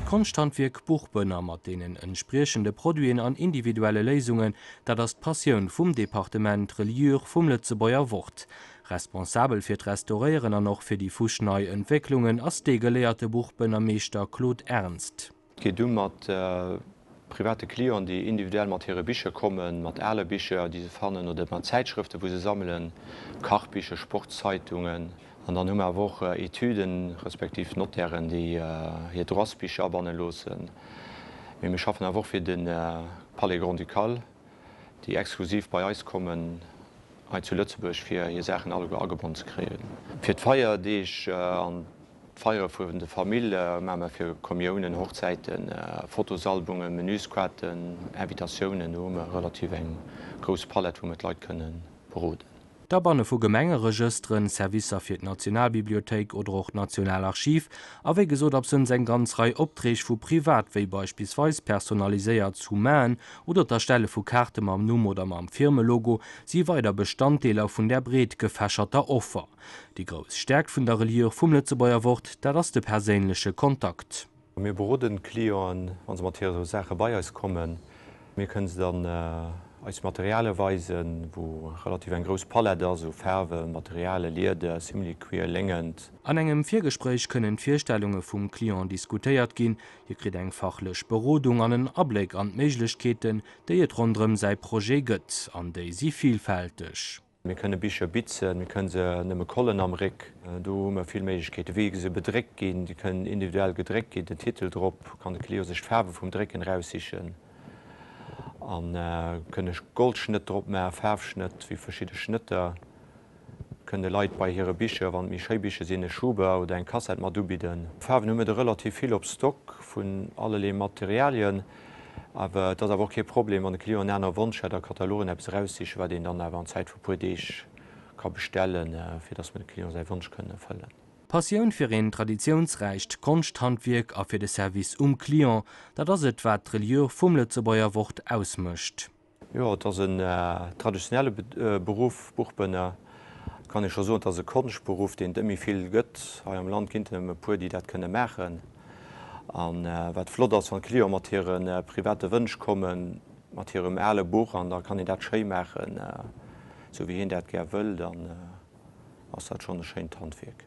D'Konschthandwierk Buchbënner mat deenen entspriechende Produiten an individuelle Léisungen, dat ass d'Passioun vum Departement Reliure vum Lëtzebuerger Wort. Responsabel fir d'Restauréieren an och fir déi fuschnei Entwécklungen ass dee geléierte Buchbënnermeeschter Claude Ernst. Gi du mat private Clienten, déi individuell mat hire Bicher kommen, mat ale Bicher, déi se fannen, oder mat Zäitschrëfte, wou se sammelen, Kachbicher, Sportszeitungen, an dann hu mer awer och Etüden, respektiv Notairen, déi hir Droitsbicher abanne loossen. Mee mir schaffen awer och fir de Palais grand-ducal. déi exklusiv bei eis kommen hei zu Lëtzebuerg fir hir Saachen alleguer agebonn ze kréien. Fir d'Feierdeeg an d'Feiere vun de Famill maache mer fir Kommiounen, Hochzäiten, Fotosalbumen, Menüsquaten, Invitatiounen, do hu mer relativ eng grouss Palett wou mer d'Leit kënne beroden. d'Abanne vu Gemengeregësteren, Servicer fir d'Nationalbibliothéik oder och d'Nationalarchiv a wéi gesot absënns eng ganz Rei Opträg vu privat wéi beispillsweis personaliséiert Summaen oder d'Erstelle vu Kaarte mam Numm oder mam Firmelogo si weider Bestanddeeler vun där breet gefächerter Offer. Déi grouss Stäerkt vun der Reliure vum Lëtzebuerger Wort, dat ass de perséinleche Kontakt. Mir beroden d'Clienten, wa se mat hire Saache bei eis kommen. Mir kënne se dann eis Materialie weisen, wou relativ eng grouss Palett ass u Faarwen, Materialien, Lieder, Similicuir, Léngent. An engem Virgespréich kënnen d'Virstellunge vum Client diskutéiert ginn, hie kritt eng fachlech Berodung an en Abléck an d'Méiglechkeeten, déi et ronderëm säi Projet gëtt, an déi si vilfälteg. Mir kënne Bicher bitzen, mir kënne se nëmme kollen am Réck. Do hu mer vill Méiglechkeeten. Wéi se bedréckt ginn, déi kënnen individuell gedréckt ginn, den Titel drop, kann de Client sech d'Faarwe vum Drécken eraussichen a kënne Goldschnëtt drop maachen, Faarfschnëtt, wéi verschidde Schnëtter. Mir kënnen de Leit bei hire Bicher, wann et méi schéi Bicher sinn, e Schuber oder eng Kassett mat ubidden. Faarwen hu mir der relativ vill op Stock vun allerlee Materialien. Awer et ass awer och kee Problem, wann de Client en aner Wonsch hätt a Katalogen eppes eraussichen, wat een dann awer an Zäit vu puer Deeg ka bestellen, fir dass mer dem Client säi Wonsch kënnen erfëllen. Passioun fir een traditiounsräicht Konschthandwierk a fir de Service um Client, dat ass et, wat d'Reliure vum Lëtzebuerger Wort ausmécht. Jo, et ass en traditionelle Beruff, Buchbënner. Et kann ee scho soen, et ass e Konschtberuff, deen et net méi vill gëtt. Hei am Land ginn et erëm e puer, déi dat kënne maachen. A wat flott ass, wann d'Cliente mat hire private Wënsch kommen, mat hirem ale Buch, an da kann een dat schéi maachen, esou wéi hien dat gär wëll, dann ass dat schonn e schéint Handwierk.